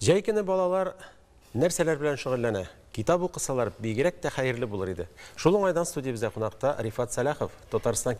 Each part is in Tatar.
Җәй көне балалар нәрсәләр белән шөгыльләнә? Китап укысалар, бигрәк тә хәерле булыр иде. Шул уңайдан студиябездә кунакта Рифат Сәлахов, Татарстан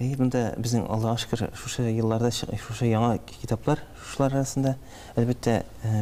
Әйе, монда безнең, Аллага шөкер, шушы елларда шушы яңа китаплар, шушылар арасында. Әлбәттә,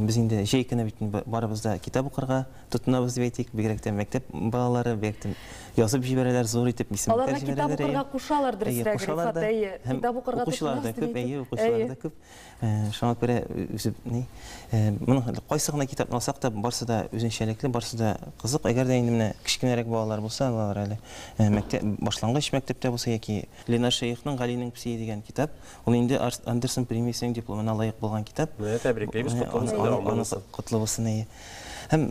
без инде җәй көне бит барыбыз да китап укырга тотынабыз дип әйтик, бигрәк тә мәктәп балалары, бигрәк тә язып җибәрәләр, зур итеп исемлекләр җибәрәләр. Аларны китап укырга кушалар, дөресрәге, Рифат, әйе, китап укырга тотынабыз дип әйтеп. Әйе, укучылар да күп, әйе, укучылар да күп. Шуңа күрә үзе ни моның кайсы гына китапны алсак та барсы да үзенчәлекле, барсы да кызык. Әгәр дә инде менә кечкенәрәк балалар булса, алар әле мәктәп башлангыч мәктәптә булса яки Ленар Шәехның Галинең псие дигән китап, ул инде Андерсон премиясенең дипломына лаек булган китап. Менә тәбриклибез, котлы булсын, дәвамлы булсын. Котлы булсын, әйе. Һәм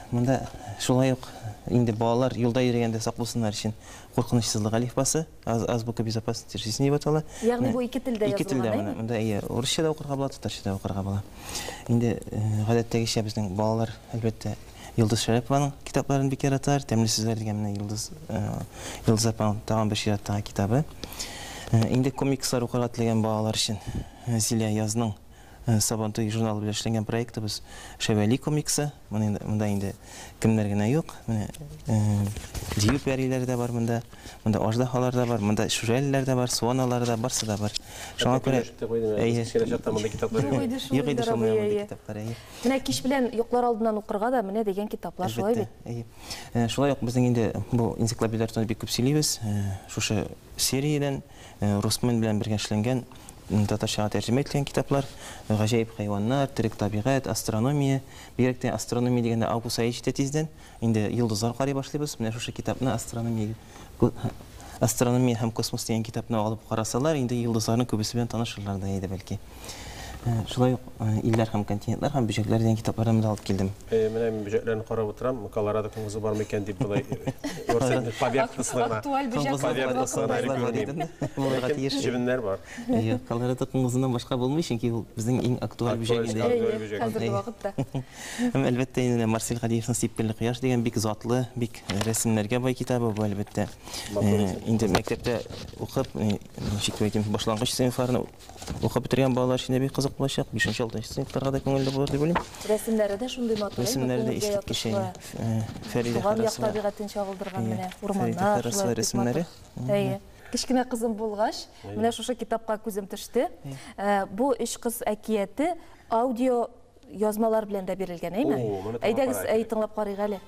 монда шулай ук инде балалар юлда йөрегәндә сак булсыннар өчен Куркынычсызлык әлифбасы. Аз, азбука безопасности жизни дип атала. Ягъни бу ике телдә язылган, Ике телдә әйме? моны. Монда әйе, урысча да укырга була, татарча да укырга була. Инде э, гадәттәгечә безнең балалар, әлбәттә, Йолдыз Шәрәпованың китапларын бик яраталар. Тәмле сүзләр дигән менә Йолдыз, э, Йолдыз апаның тагын бер чираттагы китабы. Э, Инде комикслар укырга теләгән балалар өчен э, Зилә язның Сабантуй журналы белән эшләнгән проектыбыз Шәвәли комиксы. Монда инде кемнәр генә юк. Менә Дию пәриләре дә бар монда. Монда аждаһалар да бар, монда шүрәлеләр дә бар, суаналар да, барсы да бар. Шуңа күрә Әйе. Юк иде шул менә мондый китаплар, әйе. Менә кич белән йоклар алдыннан укырга да менә дигән китаплар, шулай бит? Әйе. Шулай ук безнең инде бу энциклопедияләр турында бик күп сөйлибез. Шушы сериядән Русмен белән бергә эшләнгән, татарчага тәрҗемә ителгән китаплар, Гаҗәеп хайваннар, Терек табигать, Астрономия. Бигрәк тә Астрономия дигәндә август ае җитә тиздән. Инде йолдызлар карый башлыйбыз. Менә шушы китапны Астрономия Астрономия һәм космос дигән китапны алып карасалар, инде йолдызларның күбесе белән танышырлар да иде, бәлки. Шулай ук илләр һәм континентлар һәм бөҗәкләр дигән китаплардан да алып килдем. Менә мин бөҗәкләрне карап утырам, Колорадо коңгызы бар микән дип болай күрсәм, павиак кысылына. Актуаль бөҗәк павиак кысылына әле күрмим. Булырга тиеш. Җебеннәр бар. Колорадо коңгызыннан башка булмый, чөнки ул безнең иң актуаль бөҗәк инде. Актуаль бөҗәк. Хәзерге вакытта. Һәм әлбәттә инде Марсель Гадиевның Сипкелле кояш дигән бик затлы, бик рәсемнәргә бай китабы бу, әлбәттә. Инде мәктәптә укып, ничек тә итеп башлангыч сыйныфларны Укып бетергән балалар өчен дә бик кызык булачак. 5-6 сыйныфтарга да күңелле булыр дип уйлыйм. Рәсемнәре дә шундый матур, Рәсемнәре дә искиткеч. Фәридә Харасова табигатен чагылдырган менә урманнар, шулай рәсемнәре. Әйе. Кечкенә кызым булгач, менә шушы китапка күзем төште. Бу өч кыз әкияте аудио Язмалар белән дә бирелгән, әйме? Әйдәгез, әй тыңлап карыйк әле.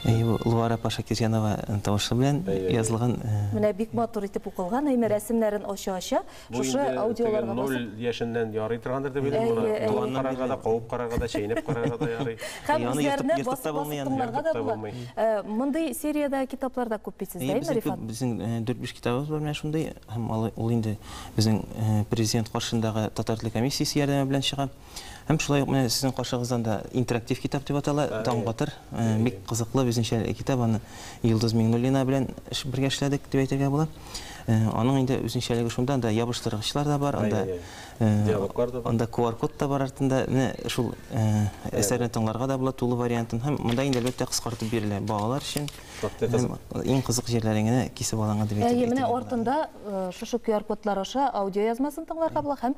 Әйе, бу Луара Пашакирҗанова тавышы белән язылган. Менә бик матур итеп укылган, әйме, рәсемнәрен ача-ача, Бу инде теге ноль яшеннән ярый торгандыр дип уйлыйм. Моны туганнан карарга да, кабып карарга да, чәйнәп карарга да ярый. Һәм үзләренә басып тыңларга да була. Мондый сериядә китаплар да күп бит сездә, әйеме, Рифат? Безнең дүрт-биш китабыбыз бар менә шундый. Һәм ул инде безнең президент каршындагы татар теле комиссиясе ярдәме белән чыга. Һәм шулай ук менә сезнең каршыгыздан да интерактив китап дип атала, Таң батыр. Бик кызыклы үзенчә китап, аны Йолдыз Миңнуллина белән бергә эшләдек дип әйтергә була. Аның инде үзенчәлеге шунда, анда ябыштыргычлар да бар, анда диалоглар да бар. Анда QR-код та бар артында. Менә шул әсәрне тыңларга да була тулы вариантын. Һәм монда инде әлбәттә кыскартып бирелә балалар өчен. Иң кызык җирләрен генә кисеп алынга дип әйтергә була. Әйе, менә артында шушы QR-кодлар аша аудиоязмасын тыңларга була һәм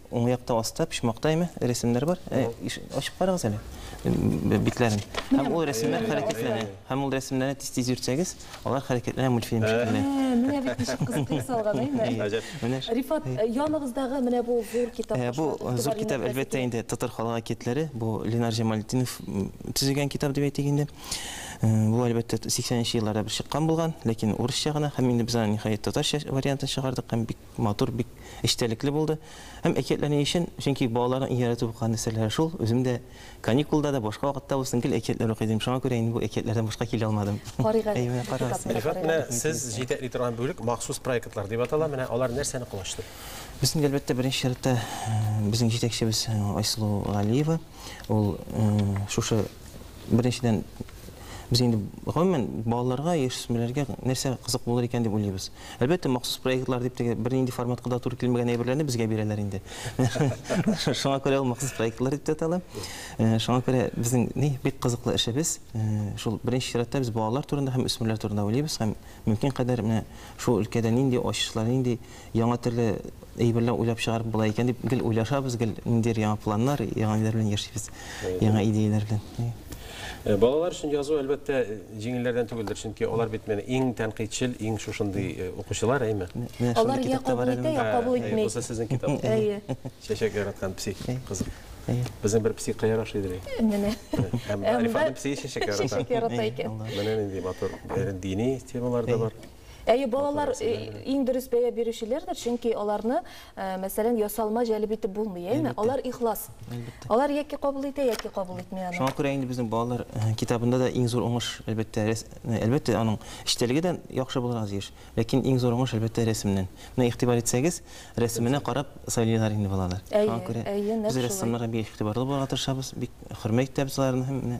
Уң якта аста, почмакта яме, рәсемнәр бар. Ә, иш- ачып карагыз әле б- битләрен. Һәм ул рәсемнәр хәрәкәтләнә. Һәм ул рәсемнәрне тиз-тиз йөртсәгез, алар хәрәкәтләнә мультфильм шикелле. Ә, менә бит ничек кызыкка салган, әйме? Әйе. Гаҗәп. Менә ш- Рифат, э, яныгыздагы менә бу зур китап. Ә, Бу шуңа зур игътибар китап, юнәлтәсе әлбәттә, килә. инде татар халык әкиятләре. Бу Ленар Җамалтдинов м, төзегән китап дип әйтик инде. Э, Бу, әлбәттә, 80 нче елларда бер чыккан булган, ләкин урысча гына. Һәм инде без аны, ниһаять, татарча вариантын чыгардык һәм бик Матур, бик эчтәлекле булды. Һәм әкиятләр ни өчен? Чөнки балаларның иң яратып укыган нәрсәләре шул. Үзем дә каникулда да, башка вакытта булсын, гел әкиятләр укый идем. Шуңа күрә инде бу әкиятләрдән башка килә алмадым. Карыйк әле. Әйе, менә карагыз. Рифат, менә сез җитәкли торган бүлек махсус проектлар дип атала. Менә алар нәрсәне колачлый? Без инде, әлбәттә, беренче чиратта безнең җитәкчебез Айсылу Галиева. Ул шушы, беренчедән, без инде, гомумән, балаларга, яшүсмерләргә нәрсә кызык булыр икән дип уйлыйбыз. Әлбәттә, махсус проектлар дип теге бернинди форматка да туры килмәгән әйберләрне безгә бирәләр инде. Шуңа күрә ул махсус проектлар дип тә э, Шуңа күрә безнең ни бик кызыклы эшебез, э, шул беренче чиратта без балалар турында һәм үсмерләр турында уйлыйбыз һәм мөмкин кадәр менә шул өлкәдә нинди ачышлар, нинди яңа төрле әйберләр уйлап чыгарып була икән дип гел уйлашабыз, гел ниндидер яңа планнар, яңа ниләр белән яшибез. яңа идеяләр белән. Э, балалар өчен язу, әлбәттә, җиңелләрдән түгелдер, чөнки алар бит менә иң тәнкыйтьчел, иң шушындый э, укучылар, әйме? Алар я кабул итә, я кабул итми. Булса сезнең китап. Әйе. Чәчәк яраткан пси кызык. Безнең бер пси кая охшый дили. Менә. Һәм Арифаның пси чәчәк ярата. Чәчәк ярата икән. Менә нинди матур дини темалар да бар. Әйе, балалар э, иң дөрес бәя бирүчеләрдер, чөнки аларны, э, мәсәлән, ясалма җәлеп итеп булмый, әйме? Алар ихлас. Алар яки кабул итә, яки кабул итми аны. Шуңа күрә инде безнең балалар э, китабында да иң зур уңыш, әлбәттә, әлбәттә, аның эчтәлеге дә яхшы булырга тиеш. Ләкин иң зур уңыш, әлбәттә, рәсемнән. Менә игътибар итсәгез, рәсеменә карап сайлыйлар инде балалар. Шуңа күрә без рәссамнарга бик игътибарлы булырга тырышабыз, бик хөрмәт итәбез аларны һәм